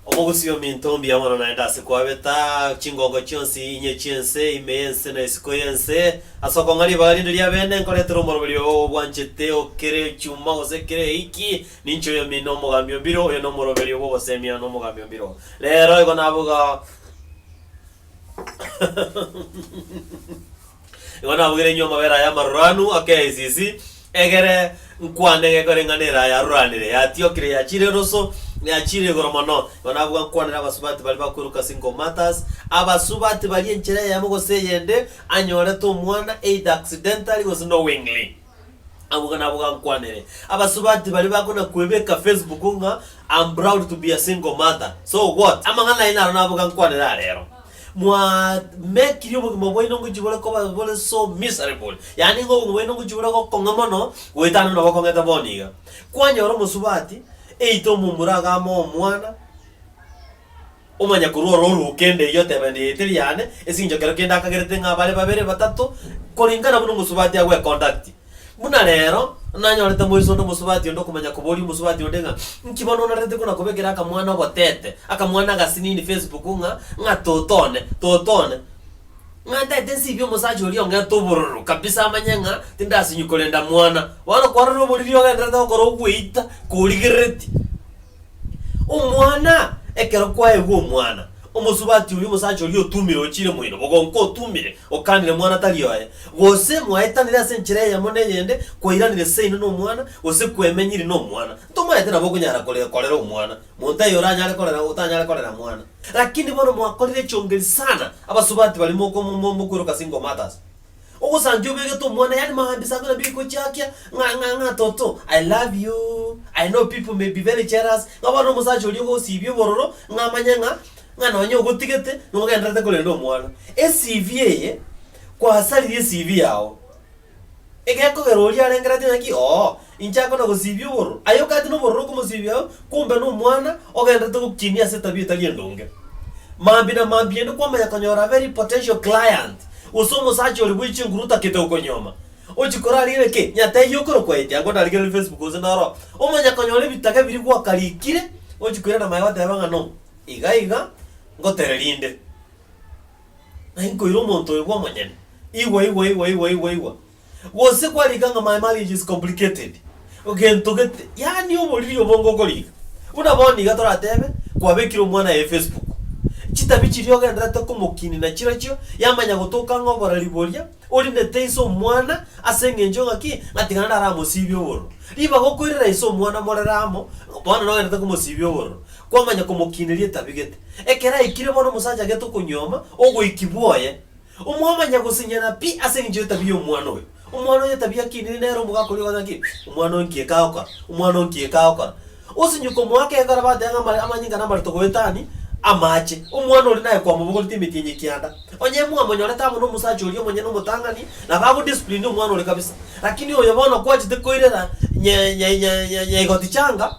Omogusii ominto mbuya mono naende ase kwabeta chingongo chionsi inye chi'ense, ime y'ense na isiko y'ense, ase okong'a ribaga rinde ri'abeene nkoretera omoroberio oo obwanchete o kera echuma gose kera eiki, ninche oyomino omogambi o mbiro, oyo nomoroberio bw'ogoseemia nomogambi o mbiro. Reero igo nabuga. Igo nabogeire inwe amabera aya amaruranu ake esisi, egere nkwane gekoreng'ana eraha yaruranire, yatiokire, yachiire eroso, yachiire igoro mono. Igo nabuga nkwanere abasubati baria bakweruka single mothers, abasubati baria enchera eyemo gose eyende anyorete omwana either accidentally gose knowingly. Abwo nabo gankwanire. Abasubati baria bakona kwebeka Facebook ng'a I'm proud to be a single mother. So what? Amang'ana aino aro nabo gankwanire arero. Mwa mekirie obogima bwaino ngochia bore koba bore so miserable. Yaani ng'a obogima bwaino ngochia bore gokong'a mono goetana buna bokong'ete bono iga. Kwanyora omosubati, either omomura agame omwana. Omanya korwa orooruo kende eyio otebende yaeteri yane esinchokero kende akagerete ng'a bare babere batato koringana buna omosubati agweconduct. Buna rero nanyorete moise onde omosubati onde okomanya koboria omosubati onde ng'a inki bono onarerete kona kobekera akamwana obotete akamwana agasinini Facebook ng'a ng'a toto one toto one ng'a ntaete nsibie omosacha oria ong'ete obororo kabisa amanye ng'a tindasinywa korenda mwana. Bono kwarora oboriri ogenderete gokora ogweita korigereti. Omwana, ekero kwaegwa omwana, omosubati oria, omosacha oria otumire ochiire moino, bogonka otumire, okanire mwana tari oye, gose mwaetanire ase enchera eyemo n'eyende, kwairanire seino nomwana, gose kwemenyiri nomwana, ntomaete nabo okonyara kore korera omwana, monto eye oranyare korera otanyare korera mwana. Lakini bono mwakorire echongeri sana abasubati baria moko mo mo mokweroka single mothers. Ogosancha obegete omwana yaani maambia saa kumi na mbili gochiakia ng'a ng'a ng'a toto I love you, I know people may be very jealous ng'a bono omosacha oria ogosibia obororo ng'a amanye ng'a ng'a nonye ogotigete nogendererete korenda omwana. ECV eye, kwasaririe ecv yao, egekogera oria arengereretie ng'a ki oo. Inche anga nagosiibie obororo. Aye okagati nobororo okomosiibia oo, kombe nomwana ogendererete gokinia ase etabia etari endonge. Maambia na maambia inde kwamanya konyora a very potential client, gose omosacha oria bwaiche nguru otagete gokonyuoma. Ochia korarigerera ki? Nyatee eyio ekero kwaetia, anga onarigerere Facebook gose noro omanya konyora ebitaga ebiria gwakarikire, ochia koirana maega otebe ng'a no, iga iga, ngotereria inde. Naki nkoira omonto oyo bw'omonyene. Igwa igwa igwa igwa igwa igwa. Gose kwarika ng'a my marriage is complicated, gento gete, yaani oboriri obo ngokoriika. Buna bono iga toratebe kwabekire omwana aye Facebook, chitabi chiria ogendererete komokinina chirochio yamanya gotoka ng'a oborari boria orinete ise omwana ase eng'encho ng'a ki? Ng'a tiga naende aramosibie obororo. Ribaga okoirera ise omwana morere amo, bono nogendererete komosibia obororo, kwamanya komokiniria etabi gete. Ekero aikire bono omosacha gete okonyuoma ogoiki bwoye, Omwamanya gosenyana pi ase engencho y'etabia y'omwana oyo. Omwana oyo etabia akinire nere omogaka oria ogoteba ng'a, Omwana oyo nki ekagokora? Omwana oyo nki ekagokora? Osinye komoa akeeng'a na bateba ng'a ama- amanyinga na amareto goetani amaache. Omwana oria naye kwamobogoreti emetienyi ekianda. Onye mwamonyorete amo nomosacha oria omonyene omotang'ani, nabo agodisplinio omwana oria kabisa. Lakini oyo bono kwachete koirera nya- nya- nya- nya- nyaigoti changa,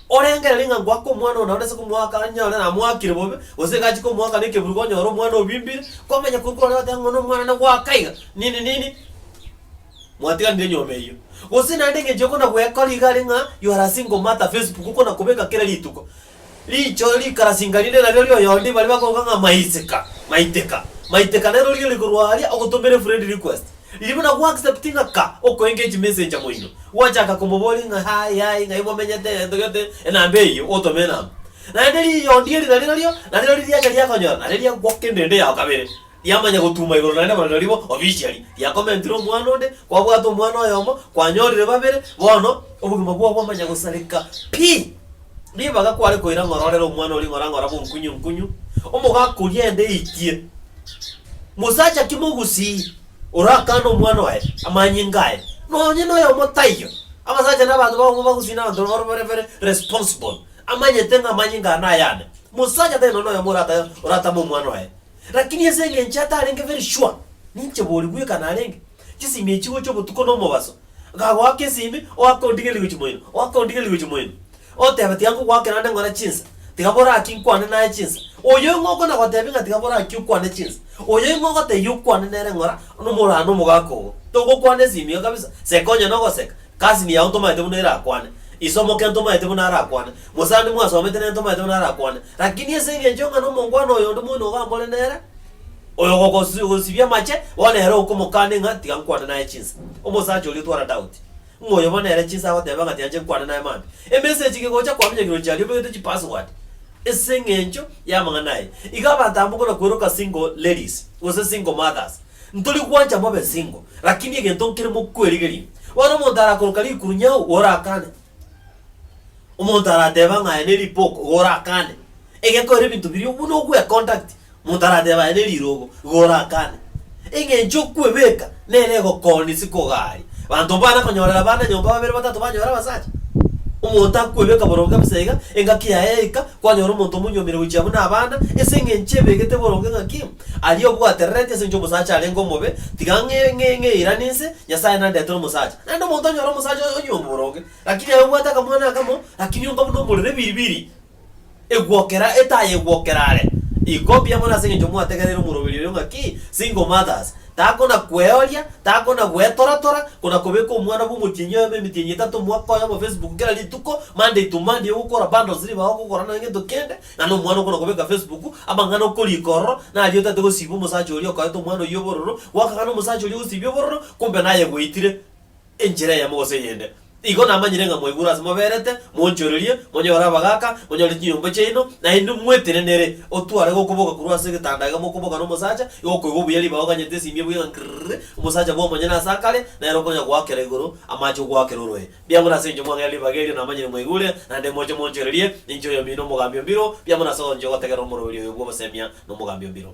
Orengereri ng'a ngoaka omwana ona orase komoaka anyare namoakire bobe, gose iga achie komoaka nekeburugo onyore omwana obimbire, komanya kori korore goteba ng'a nomwana nagoaka iga, nini nini, mwatiganire nyuoma eyio. Gose naende eng'encho okona gwekora iga are ng'a you are a single mother Facebook okona kobeka kera rituko, riicho rikarasinga rinde nario rioyo onde baria bakoruga ng'a maisika, maiteka, maiteka nero riria rikorwa aria ogotomere friend request. Riria buna gw'acceptinga ka okoenga echimeseji amo inwe, gwachaka komoboria ng'a Hi, hi, ng'ai momenyete, egento gete, enamba eyio, otome enamba. Naende riyondi eri nario nario, narero riacha riakonyora, nario riagoka endende yao kabere, riamanya gotuma igoro naende mana naribo officially, riakomentire omwana onde, kwabwate omwana oyomo, kwanyorire babere, bono obogima bwao bwamanya gosareka pi. Ribaga kware koira ng'ora orere omwana oria ng'ora ng'ora bonkunyu nkunyu, omogaka oria ende eitie. Mosacha ki mogusii orakane omwana oye amanyinga aye? Nonye noyomo taiyo. Abasacha na abanto bagomo bagusii nabanto bababo bare very responsible. Amanyete ng'a amanyinga aya nayane. Mosacha tari nonye noyomo oratame omwana oye. Rakini ase engencho atarenge very sure, ninche bori bweka narenge. Chisimi echi gocha obotuko na omobaso. Nkagoaka esimi, oake ondige rigochi moino, oake ondige rigochi moino. Otebe, Tiga nkogoakera ande ng'ore chinsa, tiga bore aki nkwane naye chinsa. Oyio ng'a okona gotebia ng'a tiga bore aki okwane chinsa, oyio ng'a ogotebia okwane nere ng'ora nomorano omogaka ogo. Togokwana esimi iga kabisa, seka onye nogoseka, cousin yao ntomaete buna erakwane, ise omoke ntomaete buna arakwane, mosani mwasomete nere ntomaete buna arakwane. Rakini ase eng'encho ng'a nomongwana oyonde moino oga mbore nere, oyogogosibia amache, bono ere okomokane ng'a tiga nkwane naye chinsa. Omosacha oria otwara Daudi, ng'a oyo bono ere chinsa agoteba ng'a tianche nkwane naye mambia. Emessage eke gocha kwamenyekire roche aria obegete chipassword ase eng'encho y'amang'ana aye. Iga abanto aba mbokona kweroka single ladies gose single mothers. Ntori gwancha mobe single, lakini egento nkere mokwerigeria. Bono omonto arakoroka rikuru nyau, orakane. Omonto arateba ng'a aye neripoko, igo orakane. Egekore ebinto biria buna ogwe conduct, omonto arateba aye nerirogo, igo orakane. Eng'encho okwebeka nere egokoonia isiko ogaria. Abanto mbana konyorera abana nyomba babere batato banyore abasacha. Omonto akwebeka boronge bosa iga, engaki yaye yaika, kwanyora omonto omonyuomire gochia buna abana, ase eng'encho ebegete boronge ng'aki, aria obwaterereti ase eng'encho omosacha arenge omobe, tiga ng'e ng'e ng'eirane inse, Nyasae nandetera omosacha. Naende omonto onyore omosacha onyuomi boronge, Lakini aye obwate akamwana akamo, akirionka buna omorero ebiribiri egwokera etaaya egwokera are. Iko mbuya mono ase engencho mwategereire omoroberi oyo ng'a ki, single mothers, takona kweoria, takona gwetoratora, kona kobeka omwana bwa omotienyi oyomo emitienyi etato mwaka oyomo Facebook kera rituko, Monday to Monday ogokora bundles riba ogokora nonya gento kende, ng'a na omwana okona kobeka Facebook, amang'ana okorika ororo, nario otaete gosiba omosacha oria okoete omwana oyio obororo, gwakagana omosacha oria ogosibia obororo, kumbe naye gwaitire. enchera eyemo gose eyende. Igo namanyire ng'a mwaigure ase moberete, monchorerie, monyore abagaaka, monyore chinyomba chiaino, naende mwetenenere otware gokoboka korwa ase egetanda iga mokoboka nomosacha, igo okoigwa obuya ribaga oganyete esiimi ebuya ng'a ng'rrrrri, omosacha bw'omonyene ase akare, nere okonya goakera igoro, amaache ogoakera oroe. Biang'o nase inche mwang'aera ribaga erio namanyire mwaigure, naende moche monchorerie, ninche oyomino omogambi o mbiro, biang'o nase ogoancha gotegerera omoroberio oyo bw'obosemia nomogambi o mbiro.